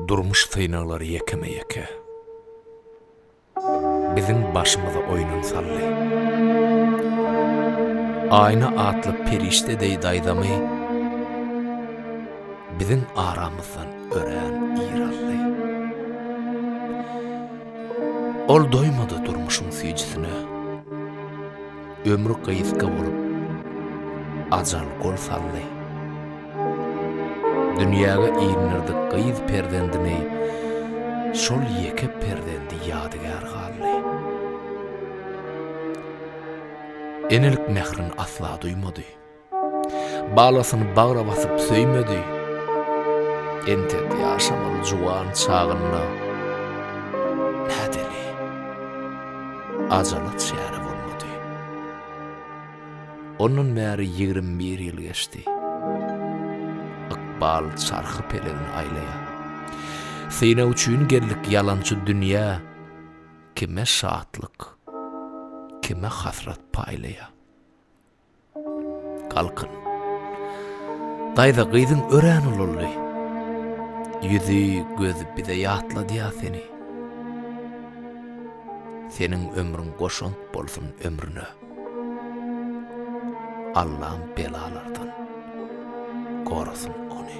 Durmuş synaglary ýekeme-ýeke Biziň başymyza oýnun saldy. Aýna atly perişde deý daýzamy Biziň aramyzdan örän ir aldy. Ol doýmady durmuşyň süýjüsine. Ömür gysga bolup, ajal gol saldy. Dünýäge indirdik gyz perzendini, şol ýeke perzendi ýadygär galdy. Enelik mährin asla duýmady. Balasyny bagra basyp söýmedi. Entek ýaşamaly juwan çagynda nädeli ajala çäre bolmady. Ondan bäri ýigrimi bir ýyl geçdi. Ykbal çarhy pelegini aýlaýar. Synag üçin geldik ýalançy dünýä, kime şatlyk, kime hasrat paýlaýar. Galkyn. Daýza gyzyň örän ulaldy. Ýüzi, gözi bize ýatladýa seni. Seniň ömrüň goşant bolsun ömrüne. Allam belalardan gorasyn ony.